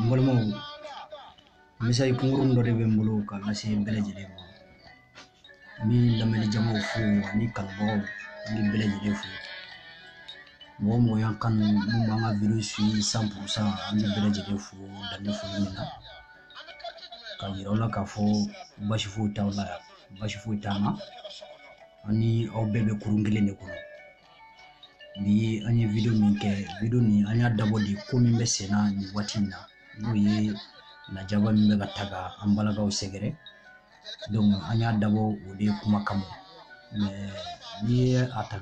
n balimaw message kunkurun dɔ de bɛ n bolo ka lase bɛɛ lajɛlen ma n bɛ lamɛnni jamaw fo ani kanubagaw n bɛ bɛɛ lajɛlen fo mɔgɔ mɔgɔ y'an kanu min b'an ka video suivre cent pour cent an bɛ bɛɛ lajɛlen fo dan tɛ foli min na ka yira aw la k'a fɔ basi foyi t'aw la yan basi foyi t'an na ani aw bɛɛ bɛ kurun kelen de kɔnɔ ni an ye wideyo min kɛ wideyo nin an y'a dabɔ de ko min bɛ senna nin waati in na n'o ye lajaba min bɛ ka ta ka an balakaw sɛgɛrɛ donc an y'a dabɔ o de kuma kama n'i ye a ta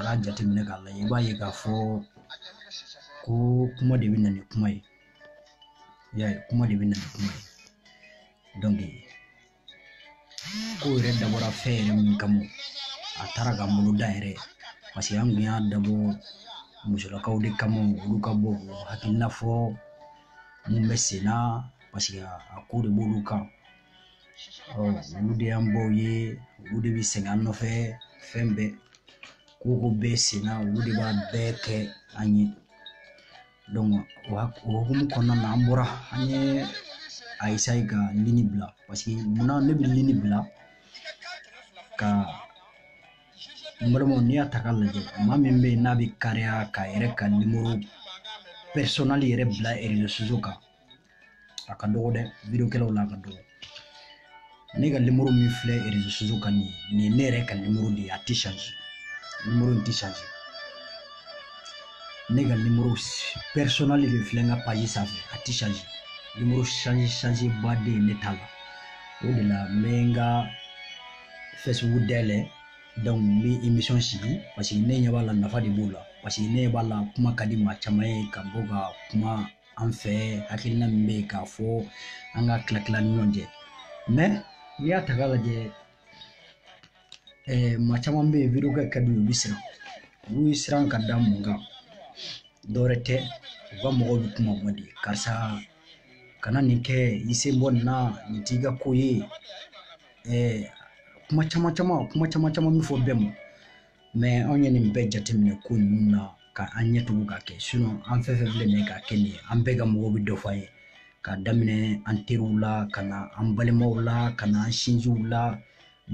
k'a jateminɛ k'a lajɛ i b'a ye k'a fɔ ko kuma de bɛ na ni kuma ye i y'a ye kuma de bɛ na ni kuma ye ko yɛrɛ dabɔra fɛn yɛrɛ min kama a taara ka bolo da yɛrɛ parce que an kun y'a dabɔ musolakaw de kama olu ka bɔ hakilina fɔ mun bɛ sen na parce que a ko de b'olu kan olu de y'an baw ye olu de bɛ sɛgɛn an nɔfɛ fɛn bɛɛ ko o ko bɛ sen na olu de b'a bɛɛ kɛ an ye donc o hukumu kɔnɔna na an bɔra an y'a essayer ka ligne bila parce que munna ne bɛ ligne bila ka n balimaw n'i y'a ta k'a lajɛ maa min bɛ yen n'a bɛ kariya k'a yɛrɛ ka nimoro personnel yɛrɛ bila réseaux sociaux kan a ka dɔgɔ dɛ videokɛlaw la a ka dɔgɔ ne ka nimoro min filɛ réseaux sociaux kan nin nin ye ne yɛrɛ ka nimoro de ye a tɛ change nimoro in tɛ change ne ka nimoro personnel de filɛ n ka paji sanfɛ a tɛ change nimoro change change ba tɛ yen ne ta la o de la n bɛ n ka facebook dayɛlɛ donc n bɛ émission sigi parce que ne ɲɛ b'a la nafa de b'o la parce que ne ɲɛ b'a la kuma ka di maa caman ye ka bɔ ka kuma an fɛ hakilina min bɛ yen k'a fɔ an ka tila tila ni ɲɔgɔn cɛ mais n'i y'a ta k'a lajɛ ɛɛ maa caman bɛ yen video kɛ ka di u bɛ siran olu ye siran ka da mun kan dɔwɛrɛ tɛ u ka mɔgɔw bɛ kuma man di karisa kana nin kɛ i sen bɔ nin na nin t'i ka ko ye ɛɛ kuma caman caman kuma caman caman min fɔ bɛɛ ma mais anw ye nin bɛɛ jateminɛ ko ninnu na ka an ɲɛ tugu k'a kɛ sinon an fɛn fɛn filɛ nin ye k'a kɛ nin ye an bɛɛ ka mɔgɔw bɛ dɔ fɔ an ye ka daminɛ an teriw la ka na an balimaw la ka na an sinjiw la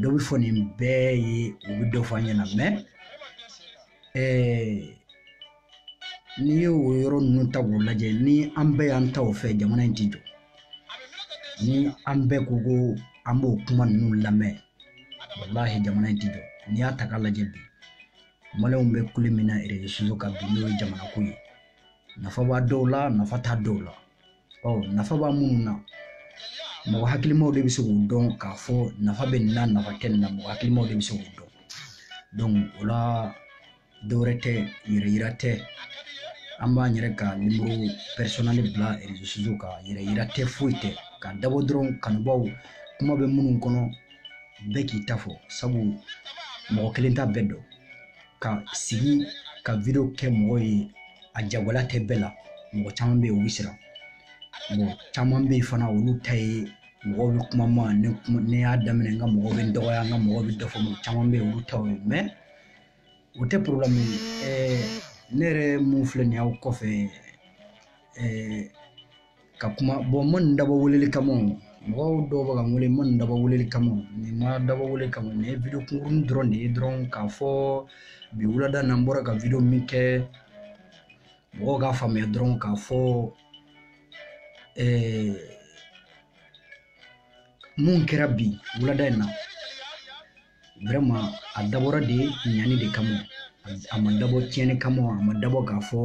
dɔ bɛ fɔ nin bɛɛ ye u bɛ dɔ fɔ an ɲɛna mais ɛɛ n'i ye o yɔrɔ ninnu ta k'u lajɛ ni an bɛɛ y'an ta o fɛ jamana in ti jɔ ni an bɛɛ ko ko an b'o kuma ninnu lamɛn walahi jamana in ti jɔ n'i y'a ta k'a lajɛ bi maliyɛnw bɛ kule min na erezo kan bi n'o ye jamana ko ye nafa b'a dɔw la nafa t'a dɔw la ɔ nafa b'a minnu na mɔgɔ hakilimaw de bɛ se k'u dɔn k'a fɔ nafa bɛ nin na nafa tɛ nin na mɔgɔ hakilimaw de bɛ se k'u dɔn o la dɔwɛrɛ tɛ yɛrɛ yira tɛ an b'an yɛrɛ ka nimoro pɛrisɔnali bila rezo kan yɛrɛ yira tɛ foyi tɛ k'a dabɔ dɔrɔn kanubaw kuma bɛ minnu kɔnɔ bɛɛ k'i ta fɔ sabu mɔgɔ kelen t'a bɛɛ dɔn ka sigi ka video kɛ mɔgɔ ye a jagɛlɛya tɛ bɛɛ la mɔgɔ caman bɛ yen u bɛ siran mɔgɔ caman bɛ yen fana olu ta ye mɔgɔw bɛ kuma ma ne y'a daminɛ n ka mɔgɔw bɛ n dɔgɔya n ka mɔgɔw bɛ dɔ fɔ mɔgɔ caman bɛ yen olu taw ye o tɛ porobilɛmu ye ɛɛ ne yɛrɛ mun filɛ nin y'aw kɔfɛ ɛɛ ka kuma bɔ n ma nin dabɔ weleli kama o mɔgɔ dɔw bɛ ka n wele n ma nin dabɔ weleli kama o nin ma dabɔ weleli kama nin ye video kunkurunin dɔrɔn de ye dɔrɔn k'a fɔ bi wulada na n bɔra ka video min kɛ mɔgɔw k'a faamuya dɔrɔn k'a fɔ ɛɛ mun kɛra bi wulada in na vraiment a dabɔra de ɲani de kama a ma dabɔ tiɲɛni kama a ma dabɔ k'a fɔ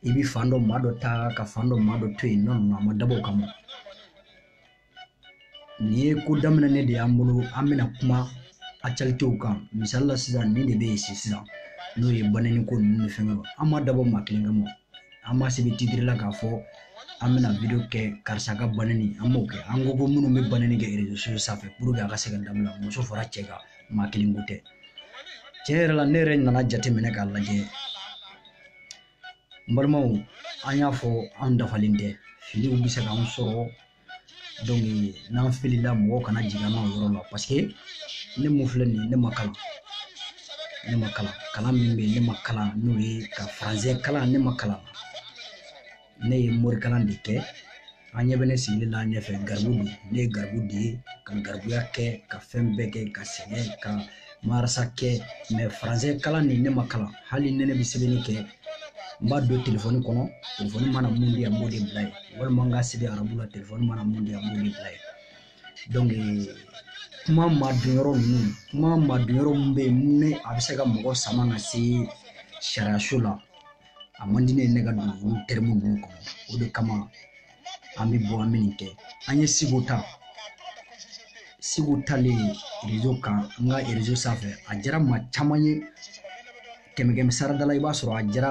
i bi fan dɔ maa dɔ ta ka fan dɔ maa dɔ to yen nɔ a ma dabɔ o kama nin ye ko daminɛnen de y'an bolo an bɛna kuma actualitéw kan misali la sisan nin de bɛ yen sisan n'o ye banɛni ko ninnu ni fɛnkɛw an m'a dabɔ maa kelen kama an m'a sɛbɛn titiri la k'a fɔ an bɛna video kɛ karisa ka banɛni an m'o kɛ an ko ko minnu bɛ banɛni kɛ erezo sosiyo sanfɛ puruke a ka se ka dabila muso fara cɛ kan maa kelen ko tɛ tiɲɛ yɛrɛ la ne yɛrɛ nana jateminɛ k'a lajɛ n balimaw an y'a fɔ an dafalen tɛ filiw bɛ se k'an sɔrɔ n'an filila mɔgɔw kana jigi an na o yɔrɔ la paseke ne mun filɛ nin ye ne ma kalan ne ma kalan kalan min bɛ yen ne m'a kalan n'o ye ka faransɛ kalan ne m'a kalan ne ye morikalan de kɛ aw ɲɛ bɛ ne sigilen na aw ɲɛfɛ garibu don ne ye garibu de ye ka garibuya kɛ ka fɛn bɛɛ kɛ ka sɛgɛn ka marasa kɛ mɛ faransɛ kalan nin ne m'a kalan hali ni ne bɛ sɛbɛnni kɛ n b'a don telefɔni kɔnɔ telefɔni mana mun di yan n b'o de bila yen walima n k'a sɛbɛn arabu la telefɔni mana mun di yan n b'o de bila yen donc kuma madon yɔrɔ ninnu kuma madon yɔrɔ min bɛ yen ni a bɛ se ka mɔgɔ sama ka se sariyaso la a man di ne ye ne ka don olu tɛrimu ninnu kɔnɔ o de kama an bɛ bɔ an bɛ nin kɛ an ye siko ta siko talen rezo kan n ka rezo sanfɛ a diyara maa caman ye kɛmɛ kɛmɛ sarada la i b'a sɔrɔ a diyara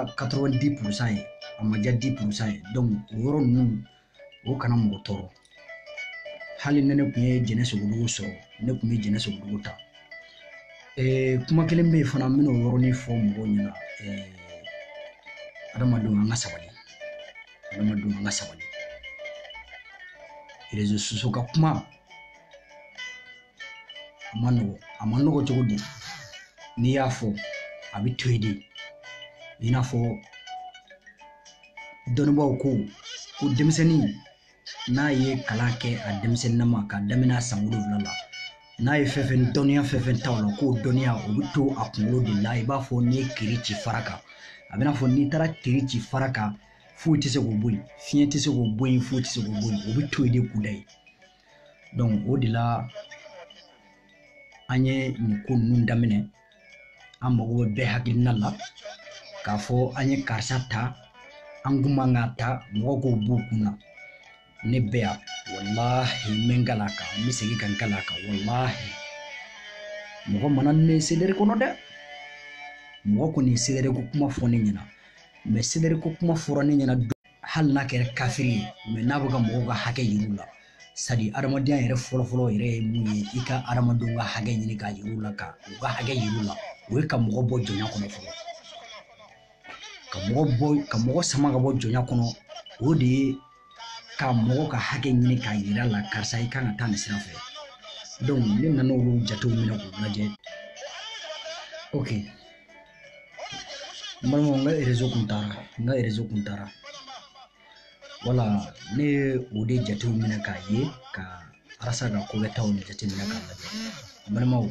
di purusan ye a ma diya di purusan ye o yɔrɔ ninnu o kana mɔgɔ tɔɔrɔ hali ni ne tun ye jɛnɛ sogodogo sɔrɔ ne tun bɛ jɛnɛ sogodogo ta kuma kelen bɛ yen fana n bɛna o yɔrɔnin fɔ mɔgɔw ɲɛna adamadenw an ka sabali adamadenw an ka sabali rezo soso ka kuma a ma nɔgɔ a ma nɔgɔ cogo di n'i y'a fɔ a bɛ to yen de i n'a fɔ dɔnnibaaw ko ko denmisɛnnin n'a ye kalan kɛ a denmisɛnninama k'a daminɛ san wolonwula la n'a ye fɛn fɛn dɔnniya fɛn fɛn ta o la k'o dɔnniya o bɛ to a kunkolo de la i b'a fɔ n'i ye tiiri ci fara kan a bɛ n'a fɔ n'i taara tiiri ci fara kan foyi tɛ se k'o bɔ yen fiɲɛ tɛ se k'o bɔ yen foyi tɛ se k'o bɔ yen o bɛ to yen de kudayi o de la an ye nin ko ninnu daminɛ an mago bɛ bɛɛ hakilina la k'a fɔ an ye karisa ta an kun man ka ta mɔgɔ k'o b'u kun na ne bɛ yan walahi n bɛ n kali a kan n bɛ segin ka n kali a kan walahi mɔgɔ mana ne ye seleri kɔnɔ dɛ mɔgɔ kɔni ye seleri ko kuma fɔ ne ɲɛna mɛ seleri ko kuma fɔra ne ɲɛna don hali n'a kɛra kafiri ye mɛ n'a bɛ ka mɔgɔw ka hakɛ yir'u la sadi adamadenya yɛrɛ fɔlɔfɔlɔ yɛrɛ ye mun ye i ka adamadenw ka hakɛ ɲini k'a yir'u la ka u ka hakɛ yir'u la o ye ka mɔgɔ bɔ jɔnya kɔnɔ fɔlɔ ka mɔgɔ bɔ ka mɔgɔ sama ka bɔ jɔnya kɔnɔ o de ye ka mɔgɔ ka hakɛ ɲini k'a yira la karisa i kan ka taa nin sira fɛ ne nana olu jatew minɛ k'u lajɛ ok n balimaw n ka rezo kun taara n ka rezo kun taara wala ne ye o de jatew minɛ k'a ye ka arasa ka ko bɛɛ ta olu jateminɛ k'a lajɛ balimaw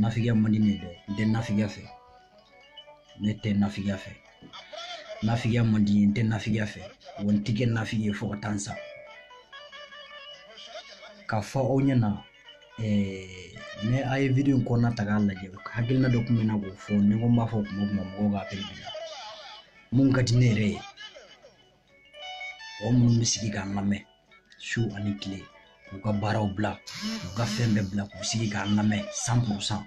nafigiya man di ne dɛ n tɛ nafigiya fɛ ne tɛ nafigiya fɛ nafigiya man di n tɛ nafigiya fɛ wa n ti kɛ nafigi ye fo ka taa n sa k'a fɔ aw ɲɛna ne a ye video in kɔnɔna ta k'a lajɛ hakilina dɔ tun bɛ n na k'o fɔ ni ko n b'a fɔ kuma o kuma mɔgɔw ka apɛli bila mun ka di ne yɛrɛ ye mɔgɔ minnu bɛ sigi k'an lamɛn su ani tile k'u ka baaraw bila k'u ka fɛn bɛɛ bila k'u sigi k'an lamɛn san purusan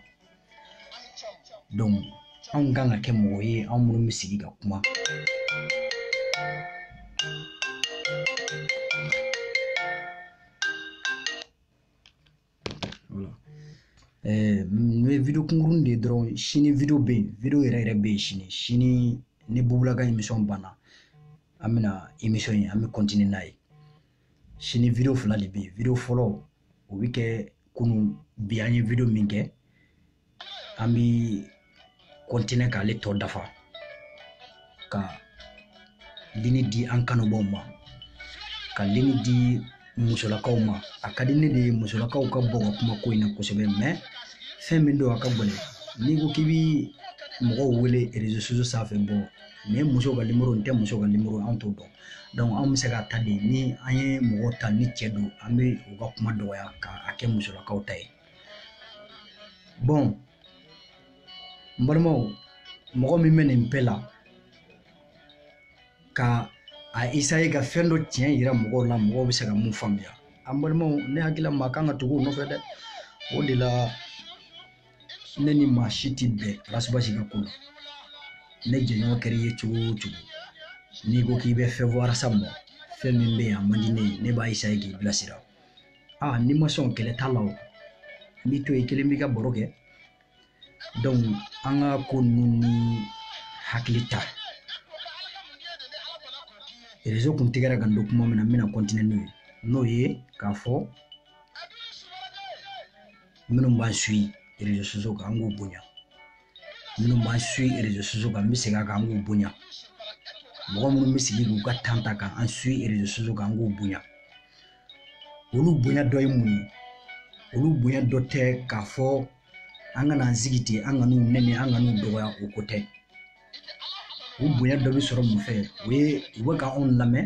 anw kan ka kɛ mɔgɔ ye anw minnu bɛ sigi ka kuma n bɛ video kunkurunnin de dɔrɔn sini video bɛ yen video yɛrɛ yɛrɛ bɛ yen sini sini ni bubu la ka emisɔn banna an bɛna emisɔn in an bɛ kɔntiniye n'a ye sini video fila de bɛ yen video fɔlɔ o bɛ kɛ kunun bi an ye video min kɛ an bi kɔntine k'ale tɔ dafa ka lini di an kanubɔw ma ka lini di musolakaw ma a ka di ne de ye musolakaw ka bɔ ka kuma ko in na kosɛbɛ mɛ fɛn min don a ka gɛlɛn n'i ko k'i bi mɔgɔw wele rezo soso sanfɛ bɔn nin ye muso ka nimoro nin tɛ muso ka nimoro an t'o dɔn donc anw bɛ se ka ta de ni an ye mɔgɔ ta ni cɛ don an bɛ u ka kuma dɔgɔya ka a kɛ musolakaw ta ye bɔn n balimaw mɔgɔ min bɛ nin bɛɛ la ka a isaye ka fɛn dɔ tiɲɛ yira mɔgɔw la mɔgɔw bɛ se ka mun faamuya an balimaw ne hakili la maa kan ka tugu o nɔfɛ dɛ o de la ne ni maa si tɛ bɛn ras bath ka ko la ne jɛɲɔgɔn kɛra i ye cogo o cogo n'i ko k'i bɛ fɛn fɔ ras ma fɛn min bɛ yen a man di ne ye ne b'a isaye k'i bilasira aa n'i ma sɔn kɛlɛ t'a la o n b'i to i kelen b'i ka baro kɛ donc an ka ko ninnu ne hakili la rezo kun tigɛra ka n to kuma min na n bɛna kɔntine n'o ye n'o ye k'a fɔ minnu b'an sui rezo soso kan an k'u bonya minnu b'an sui rezo soso kan n bɛ segin a kan an k'u bonya mɔgɔ minnu bɛ sigi k'u ka tan ta ka an sui rezo soso kan an k'u bonya olu bonya dɔ ye mun ye olu bonya dɔ tɛ k'a fɔ an kana an sigi ten an kan'u nɛni an kan'u dɔgɔya o ko tɛ u bonya dɔ bɛ sɔrɔ mun fɛ o ye u bɛ ka anw lamɛn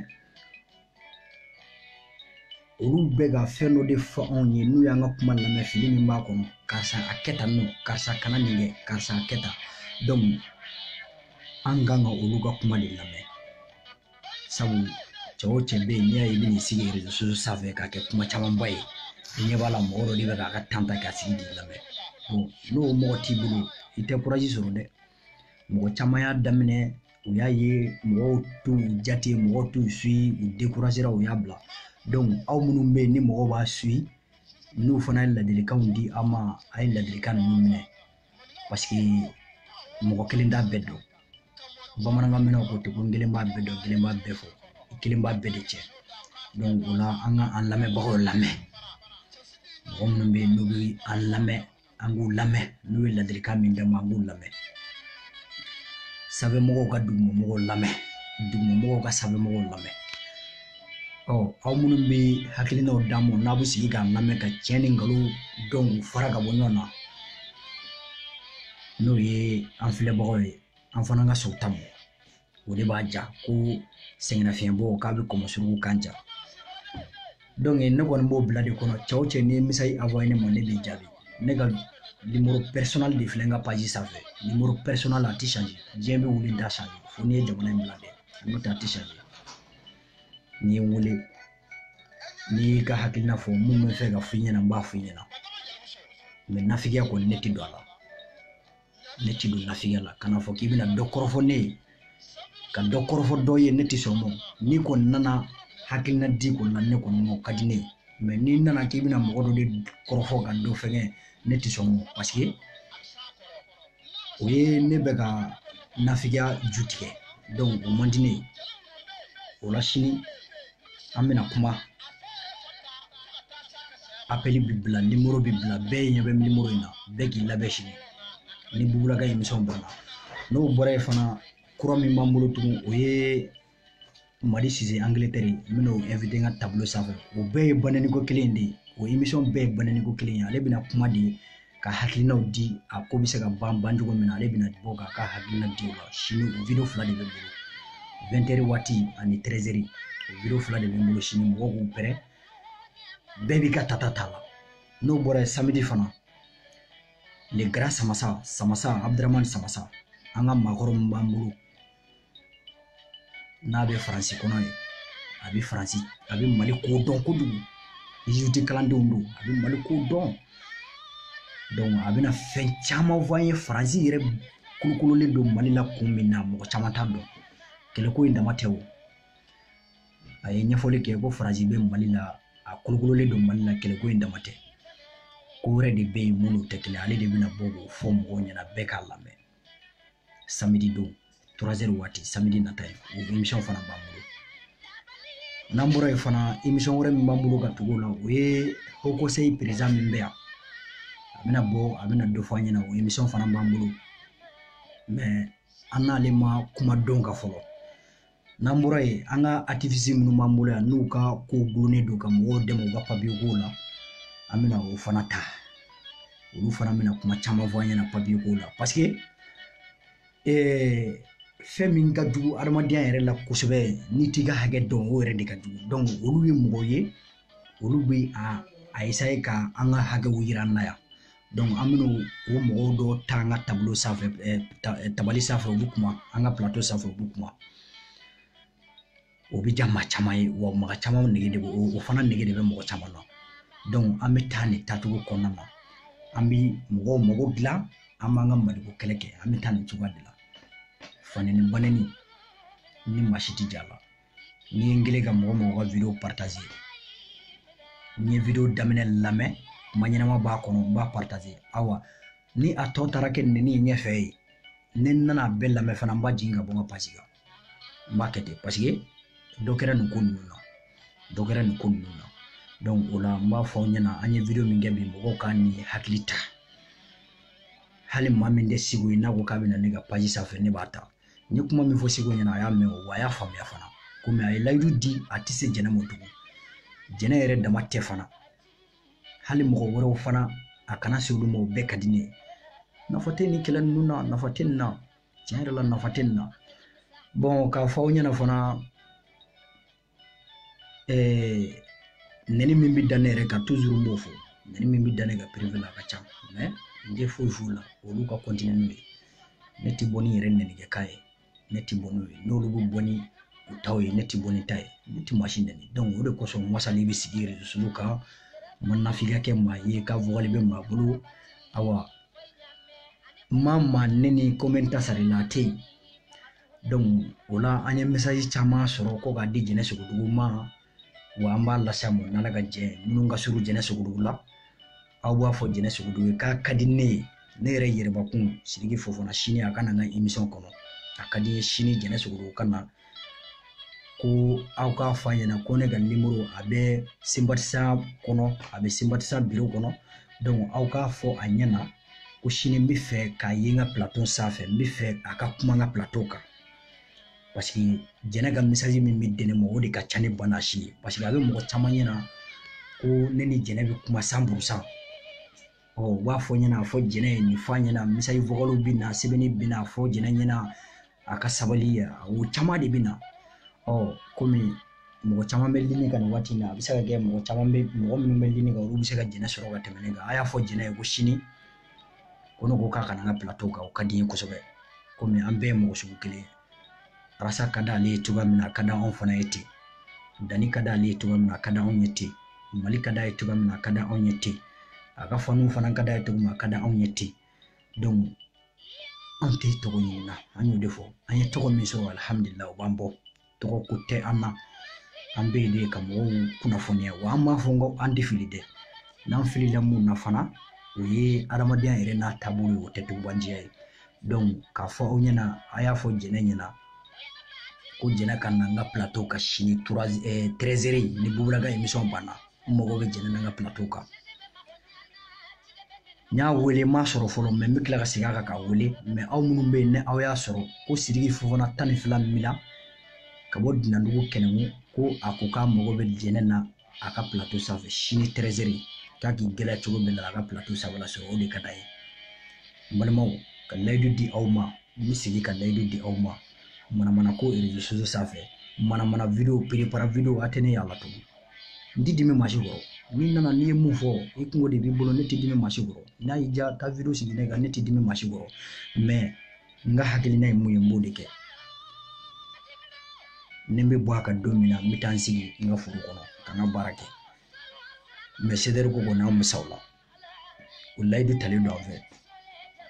olu bɛ ka fɛn dɔ de fɔ anw ye n'u y'an ka kuma lamɛn fili min b'a kɔnɔ karisa a kɛ tan nɔn karisa kana nin kɛ karisa a kɛ tan an kan ka olu ka kuma de lamɛn sabu cɛ o cɛ bɛ yen n'i y'a ye i bɛ n'i sigi rezo sanfɛ k'a kɛ kuma camanba ye i ɲɛ b'a la mɔgɔ dɔ de bɛ k'a ka tan ta k'a sigi k'i lamɛn n'o mɔgɔ t'i bolo i tɛ kurazi sɔrɔ dɛ mɔgɔ caman y'a daminɛ u y'a ye mɔgɔw t'u jate mɔgɔw t'u suyi u dekurazera u y'a bila aw minnu bɛ yen ni mɔgɔw b'aw suyi n'u fana ye ladilikanw di aw ma a ye ladilikan ninnu minɛ parce que mɔgɔ kelen t'a bɛɛ dɔn bamanan ka min ko ten ko n kelen b'a bɛɛ dɔn kelen b'a bɛɛ fɔ i kelen b'a bɛɛ de cɛn o la an ka an lamɛnbagaw lamɛn mɔgɔ minnu bɛ yen n'u bɛ an lamɛn an k'u lamɛn n'u ye ladilikan min d'an ma an k'u lamɛn sanfɛmɔgɔw ka dugumamɔgɔw lamɛn dugumamɔgɔw ka sanfɛmɔgɔw lamɛn ɔ aw minnu bɛ hakilinaw d'an ma n'a bɛ sigi k'a lamɛn ka tiɲɛ ni nkalon dɔn k'u fara ka bɔ ɲɔgɔn na n'o ye an filɛbagaw ye an fana ka sɔn ta ma o de b'a diya ko sɛgɛnnafiɲɛbɔ k'a bɛ kɔmɔ surugu kan diya ne kɔni b'o bila de kɔnɔ cɛw cɛ ni misali awɔ ne ma ne b'i jaabi ne ka nimoro pɛrisɔnali de filɛ n ka paji sanfɛ nimoro pɛrisɔnali a tɛ sanji diɲɛ bɛ wuli da sanfɛ fo n'i ye jamana in bila dɛ n'o tɛ a tɛ sanji n'i ye n wele n'i y'i ka hakilina fɔ mun bɛ n fɛ ka f'i ɲɛna n b'a f'i ɲɛna mɛ nafigiya kɔni ne ti don a la ne ti don nafigiya la kana fɔ k'i bɛna dɔ kɔrɔfɔ ne ye ka dɔ kɔrɔfɔ dɔ ye ne ti sɔn mɔ n'i kɔni nana hakilina di kɔni na ne kɔni mɔ ka di ne ye mɛ n'i nana k'i bɛna mɔgɔ dɔ de kɔrɔfɔ ka dɔ fɛngɛ ne ti sɔn mɔ paseke o ye ne bɛ ka nafigiya ju tigɛ o man di ne ye o la sini an bɛna kuma apɛli bi bila nimoro bi bila bɛɛ ɲɛ bɛ nimoro in na bɛɛ k'i labɛn sini ni bubu la ka emisɔn banna n'o bɔra yen fana kura min b'an bolo tugun o ye mali sise angletɛri n bɛna o invité n ka tableau sanfɛ o bɛɛ ye bana nin ko kelen de ye o émission bɛɛ ye bana nin ko kelen ye ale bɛna kuma de ka hakilinaw di a ko bɛ se ka ban ban cogo min na ale bɛna bɔ k'a ka hakilina di o la sini o video fila de bɛ n bolo 20 heures waati ani 13 heures o video fila de bɛ n bolo sini mɔgɔw k'u pɛrɛ bɛɛ b'i ka tata t'a la n'o bɔra yen samedi fana le grand samasa samasa abdramani samasa an ka maakɔrɔ min b'an bolo n'a bɛ faransi kɔnɔ yen a bɛ faransi a bɛ mali ko dɔn kojugu yiriden kalandenw don a bɛ mali ko dɔn dɔnku a bɛna fɛn caman fɔ an ye faransi yɛrɛ kolokololen don mali la kun min na mɔgɔ caman t'a dɔn kɛlɛko in dama tɛ o a ye ɲɛfɔli kɛ ko faransi bɛ mali la a kolokololen don mali la kɛlɛko in dama tɛ ko wɛrɛ de bɛ yen minnu tɛ kɛlɛ ale de bɛna bɔ k'o fɔ mɔgɔw ɲɛna bɛɛ k'a lamɛn samedi don trois heures waati samedi nata ye o émission fana b'an bolo n'an bɔra yen fana émission wɛrɛ min b'an bolo ka tugu o la o ye haut conseil président min bɛ yan a bɛna bɔ a bɛna dɔ fɔ an ɲɛna o émission fana b'an bolo mais an n'ale ma kuma don kan fɔlɔ n'an bɔra yen an ka atifisi minnu b'an bolo yan n'u ka ko gulonnen don ka mɔgɔw dɛmɛ u ka papiye kow la an bɛna o fana ta olu fana bɛna kuma caman fɔ an ɲɛna papiye kow la paseke eh, fɛn min ka jugu adamadenya yɛrɛ la kosɛbɛ n'i t'i ka hakɛ dɔn o yɛrɛ de ka jugu olu ye mɔgɔw ye olu bɛ a a esaye ka an ka hakɛw yira an na yan donc an bɛna o mɔgɔw dɔ ta an ka tabolo sanfɛ eh, eh, tabali sanfɛ u bɛ kuma an ka plato sanfɛ u bɛ kuma o bɛ diya maa caman ye wa mɔgɔ caman nege de bɛ o fana nege de bɛ mɔgɔ caman na donc an bɛ taa nin taacogo kɔnɔna na an bɛ mɔgɔw mago dilan an b'an ka maliko kɛlɛ kɛ an bɛ taa nin cogoya de la fanɛni banɛni ni maa si tɛ ja la n'i ye n kelen ka mɔgɔ mɔgɔ ka video partage n ye video daminɛ lamɛn kuma ɲɛnama b'a kɔnɔ n b'a partage awa ni a tɔ taara kɛ nɛni ye ɲɛfɛ yen ne nana a bɛɛ lamɛn fana n b'a jigin ka bɔ n ka paji kan n b'a kɛ ten paseke dɔ kɛra nin ko ninnu na dɔ kɛra nin ko ninnu na donc o la n b'a fɔ aw ɲɛna an ye video min kɛ bi mɔgɔw ka nin hakili ta hali maa min tɛ seku ye n'a ko k'a bɛ na ne ka paji sanfɛ ne b'a ta n ye kuma min fɔ seku ɲɛna a y'a mɛn o wa a y'a faamuya fana komi a ye layidu di a tɛ se jɛnɛ ma tugun jɛnɛ yɛrɛ dama tɛ fana hali mɔgɔ wɛrɛw fana a kana se olu ma o bɛɛ ka di ne ye nafa tɛ nin kɛlɛ ninnu na nafa tɛ nin na tiɲɛ yɛrɛ la nafa tɛ nin na bɔn n k'a fɔ aw ɲɛna fana nɛni min bɛ da ne yɛrɛ kan n b'o fɔ nɛni min bɛ da ne ka la a ka ca n tɛ foyi f'u la olu ka n'u ye ne tɛ bɔ ni yɛrɛ nɛgɛ k'a ye ne tɛ bɔ n'u ye n'olu bɛ bɔ ni u taw ye ne tɛ bɔ ni n ta ye ne tɛ maa si nɛni o de kosɔn n wasalen bɛ sigi yɛrɛ dusukun kan n ma nafiya kɛ maa ye ka wale bɛ maa bolo awa maa ma n nɛni ko n bɛ n ta sara i la a tɛ yen o la an ye misaji caman sɔrɔ ko k'a di jɛnɛ sogodogo ma wa an b'a lase mɔ n'ala k'a kɛ minnu ka surun jɛnɛ sogodogo la aw b'a fɔ jɛnɛ sogodogo ye k'a ka di ne ye ne yɛrɛ yɛrɛbakun sidiki fofana sini a ka na n ka emisɔn kɔnɔ a ka di n ye sini jɛnɛ sogodogo ka na ko aw k'a fɔ a ɲɛna ko ne ka nimɔrɔ a bɛ senbatisa kɔnɔ a bɛ senbatisa biro kɔnɔ aw k'a fɔ a ɲɛna ko sini n b'a fɛ k'a ye n ka plato sanfɛ n b'a fɛ a ka kuma n ka plato kan parce que jɛnɛ ka misaji min bɛ di ne ma o de ka ca ni bana si ye parce que a bɛ mɔgɔ caman ɲɛna ko ne ni jɛnɛ bɛ kuma san burusan ɔ u b'a fɔ n ɲɛna fɔ jɛnɛ ye nin f'a ɲɛna misaji vokaliw bɛ na sɛbɛnni bɛ na fɔ jɛnɛ ɲɛna a ka sabali o caman de bɛ na ɔ kɔmi mɔgɔ caman bɛ lini kan nin waati in na a bɛ se ka kɛ mɔgɔ caman bɛ mɔgɔ minnu bɛ lini kan olu bɛ se ka jɛnɛ sɔrɔ ka tɛmɛ ne kan a y'a fɔ jɛnɛ ye ko sini ko ne ko k'a ka na n ka plateau kan o ka di n ye kosɛbɛ komi an bɛɛ ye mɔgɔ sugu kelen ye arasa ka d'ale ye cogoya min na a ka di anw fana ye ten danni ka d'ale ye cogoya min na a ka di anw ye ten mali ka d'a ye cogoya min na a ka di anw ye ten a ka faniw fana ka d'a ye cogo min na a ka di anw ye ten an tɛ tɔgɔ ɲini na an y'o de fɔ an ye tɔgɔ min sɔrɔ alihamudulila o b'an bɔ tɔgɔ ko tɛ an na an bɛ yen de ka mɔgɔw kunnafoniya wa an t'a fɔ ko an tɛ fili dɛ n'an filila min na fana o ye adamadenya yɛrɛ n'a taabolo ye o tɛ tugubanjiya ye k'a fɔ aw ɲɛna a y'a fɔ jɛnɛ ɲɛna ko jɛnɛ ka na n ka plateau kan sini eh, tɛrɛzɛri ni bubu la ka emisɔn banna n mago bɛ jɛnɛ na n ka plateau kan n y'a wele n m'a sɔrɔ fɔlɔ mɛ n bɛ tila ka segin a kan k'a wele mɛ aw minnu bɛ yen ni aw y'a sɔrɔ ko sidiki fofana tan ni fila min na ka bɔ dunandugu kɛnɛmu ko a ko k'a mago bɛ jɛnɛ na a ka pilato sanfɛ sini tɛrɛzɛri k'a k'i gɛlɛya cogo min na a ka pilato sanfɛ lasɔrɔ o de ka d'a ye n balimaw ka layidu di aw ma n bɛ segin ka layidu di aw ma manamana ko rezo sosiyo sanfɛ manamana video préparer video a tɛ ne y'a la tugun n ti dimi maa si kɔrɔ n'i nana n'i ye mun fɔ i kungo de b'i bolo ne ti dimi maa si kɔrɔ n'a y'i diya taa wideyo sigi ne kan ne ti dimi maa si kɔrɔ mɛ n ka hakilina ye mun ye n b'o de kɛ ni n bɛ bɔ a kan don min na n bɛ taa n sigi n ka foro kɔnɔ ka n ka baara kɛ mɛ CDR ko kɔni an bɛ sa o la o layidu talen don an fɛ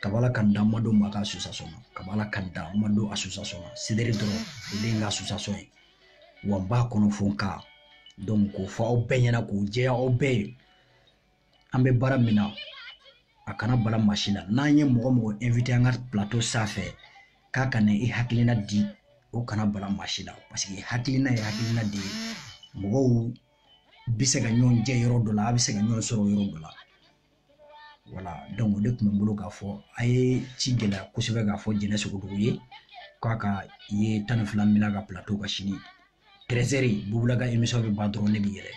kaba ala k'an dan an ma don maa ka association na kaba ala k'an dan an ma don association na CDR dɔrɔn o de ye n ka association ye wa n b'a kɔnɔ fo n ka donc k'o fɔ aw bɛɛ ɲɛna k'o jɛya aw bɛɛ ye an bɛ baara min na a kana bala maa si la n'an ye mɔgɔ mɔgɔ invité an ka plateau sanfɛ k'a ka na i hakilina di o kana bala maa si la parce que hakilina ye hakilina de ye mɔgɔw bɛ se ka ɲɔgɔn jɛ yɔrɔ dɔ la u bɛ se ka ɲɔgɔn sɔrɔ yɔrɔ dɔ la voilà o de tun bɛ n bolo k'a fɔ a ye k'i gɛlɛya kosɛbɛ k'a fɔ jɛnɛ sogodogo ye k'a ka ye tan ni fila min ka pilato kan sini tɛrɛzɛri bubu la ka emisɔn bɛ ban dɔrɔn ne bɛ yɛlɛ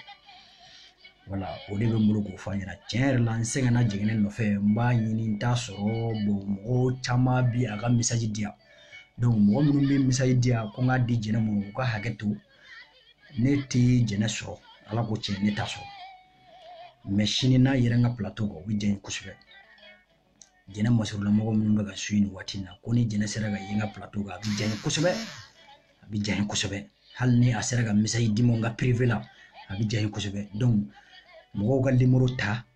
voilà o de bɛ n bolo k'o fɔ aw ɲɛna tiɲɛ yɛrɛ la n sɛgɛnna jɛnɛ nɔfɛ n b'a ɲini n t'a sɔrɔ mɔgɔ caman bi ka message di yan mɔgɔ minnu bɛ message di yan ko n k'a di jɛnɛ ma u ka hakɛ to ne tɛ jɛnɛ sɔrɔ ala ko tiɲɛ ne t'a sɔrɔ mɛ sini n'a yera n ka plateau kan o bɛ diya n ye kosɛbɛ jɛnɛ masurunamɔgɔ minnu bɛ ka su nin waati in na ko ni jɛnɛ sera ka ye n ka plateau kan a bɛ diya n ye kosɛbɛ a bɛ diya n ye kosɛbɛ hali ni a sera ka message di n ma n ka privé la a bɛ diya n ye kosɛbɛ mɔgɔw ka nimoro ta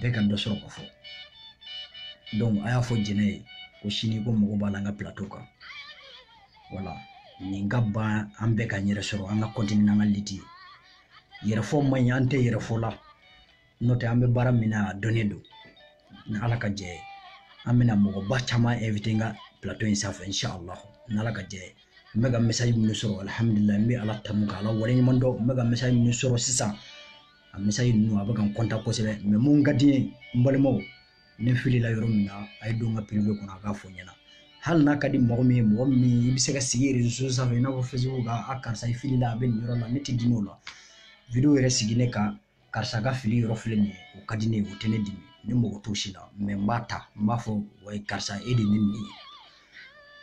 bɛɛ ka dɔ sɔrɔ ko fɔ donc a y'a fɔ jɛnɛ ye ko sini ko n mago b'a la an ka plateau kan voilà nin ka ban an bɛ k'an yɛrɛ sɔrɔ an ka kɔntini n'an ka liti ye yɛrɛfɔ man ɲi an tɛ yɛrɛfɔ la n'o tɛ an bɛ baara min na a dɔnnen don ni ala ka jɛ ye an bɛna mɔgɔba caman invité n ka plateau in sanfɛ inshallah ni ala ka jɛ ye n bɛ ka message minnu sɔrɔ alihamudulila n bɛ ala tanu ka ala waleɲuman dɔn n bɛ ka message minnu sɔrɔ sisan a misali ninnu a bɛ ka n kɔntan kosɛbɛ mɛ mun ka di n ye n balimaw ne filila yɔrɔ min na a ye don n ka piribe kɔnɔ a k'a fɔ n ɲɛna hali n'a ka di mɔgɔ min ye mɔgɔ min i bɛ se ka sigi rezo sanfɛ i n'a fɔ facebook kan a karisa i filila a bɛ nin yɔrɔ la ne tɛ dimi o la video yɛrɛ sigi ne kan karisa ka fili yɔrɔ filɛ nin ye o ka di ne ye o tɛ ne dimi ne mago t'o si la mɛ n b'a ta n b'a fɔ wa karisa e de ye ne nin ye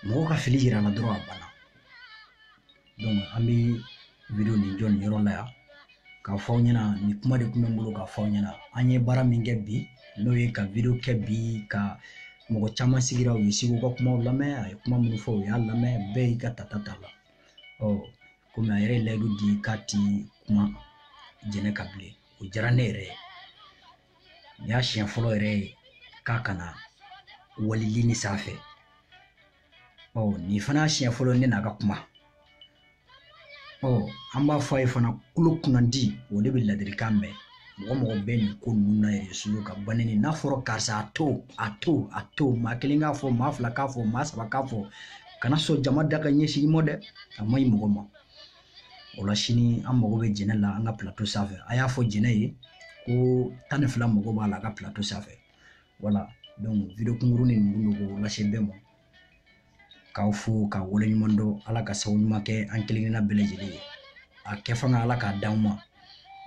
mɔgɔ ka fili yira n na dɔrɔn a banna an bɛ video nin jɔ nin yɔrɔ la yan k'a fɔ aw ɲɛna nin kuma de tun bɛ n bolo k'a fɔ aw ɲɛna an ye baara min kɛ bi n'o ye ka video kɛ bi ka mɔgɔ caman sigira u ye seku ka kumaw lamɛn a ye kuma minnu fɔ u y'a lamɛn bɛɛ y'i ka tata ta la ɔ komi a yɛrɛ ye layidu di k'a tɛ kuma jɛnɛ kan bilen o diyara ne yɛrɛ ye nin y'a siɲɛ fɔlɔ yɛrɛ ye k'a kana walili ni sanfɛ ɔ nin fana siɲɛ fɔlɔ ne n'a ka kuma ɔ an b'a fɔ a ye fana tulo kunnandi o de bɛ ladilikan mɛn mɔgɔ mɔgɔ bɛ nin ko ninnu na yɛrɛ sulu ka banni ni n'a fɔra karisa a to a to a to maa kelen k'a fɔ maa fila k'a fɔ maa saba k'a fɔ kana sɔn jama da ka ɲɛsin i ma dɛ a man ɲi mɔgɔ ma o la sini an mago bɛ jɛnɛ la an ka pilato sanfɛ a y'a fɔ jɛnɛ ye ko tan ni fila mago b'a la a ka pilato sanfɛ wala video kunkurun de ninnu don k'o lase bɛɛ ma k'aw fo ka wale ɲuman dɔn ala ka sababu ɲuman kɛ an kelen kelenna bɛɛ lajɛlen ye a kɛ fanga ala k'a d'anw ma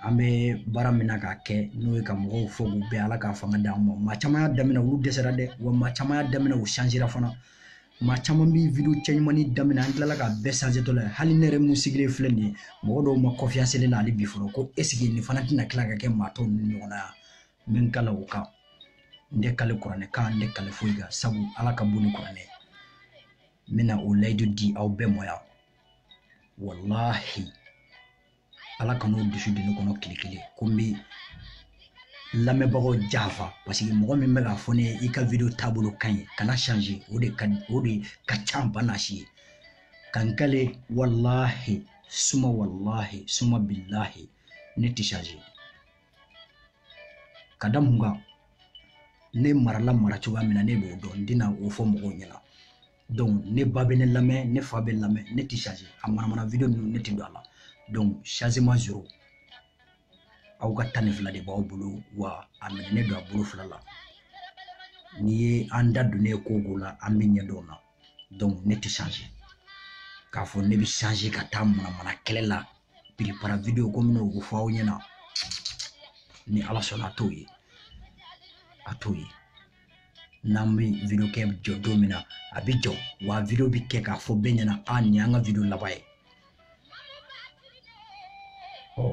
an bɛ baara min na k'a kɛ n'o ye ka mɔgɔw fo k'u bɛn ala k'a fanga d'an ma maa caman y'a daminɛ olu dɛsɛra dɛ wa maa caman y'a daminɛ u sanzera fana maa caman bɛ video cɛɲumannin daminɛ an tilala ka bɛɛ sanze tɔ la hali ne yɛrɛ min sigilen filɛ nin ye mɔgɔ dɔw ma kɔnfiyansi ne la hali bi fɔlɔ ko eseke nin fana tɛna tila ka kɛ maa tɔw ni ɲɔgɔn na yan n bɛ kale ala kan n tɛ kale kuranɛ kan n tɛ kale foyi kan sabu ala ka bon ni kuranɛ ye n bɛna o layidu di aw bɛɛ ma yan walahi ala kan'o dusu don ne kɔnɔ tile kelen ko n bɛ lamɛnbagaw janfa paseke mɔgɔ min bɛ k'a fɔ ne ye i ka video taabolo ka ɲi kana change o de ka o de ka ca n bɛna se ka n kale walahi suma walahi suma bilahi ne tɛ change ka da mun kan ne marala mara cogoya min na ne b'o dɔn n tɛna o fɔ mɔgɔw ɲɛna donc ne ba bɛ ne lamɛn ne fa bɛ lamɛn ne tɛ change a manamana video ninnu ne tɛ don a la donc changement zero aw ka tan ni fila de b'aw bolo wa a minɛnen don a bolo fila la n'i ye an da donnen ye ko o ko la an bɛ ɲɛ dɔn o la donc ne tɛ changer k'a fɔ ne bɛ changer ka taa manamana kɛlɛ la piripara video komi n y'o fɔ aw ɲɛna ni ala sɔnna a t'o ye a t'o ye n'an bɛ video kɛ jɔ don min na a bɛ jɔ wa video bɛ kɛ k'a fɔ bɛɛ ɲɛna a nin y'an ka video laban ye ɔ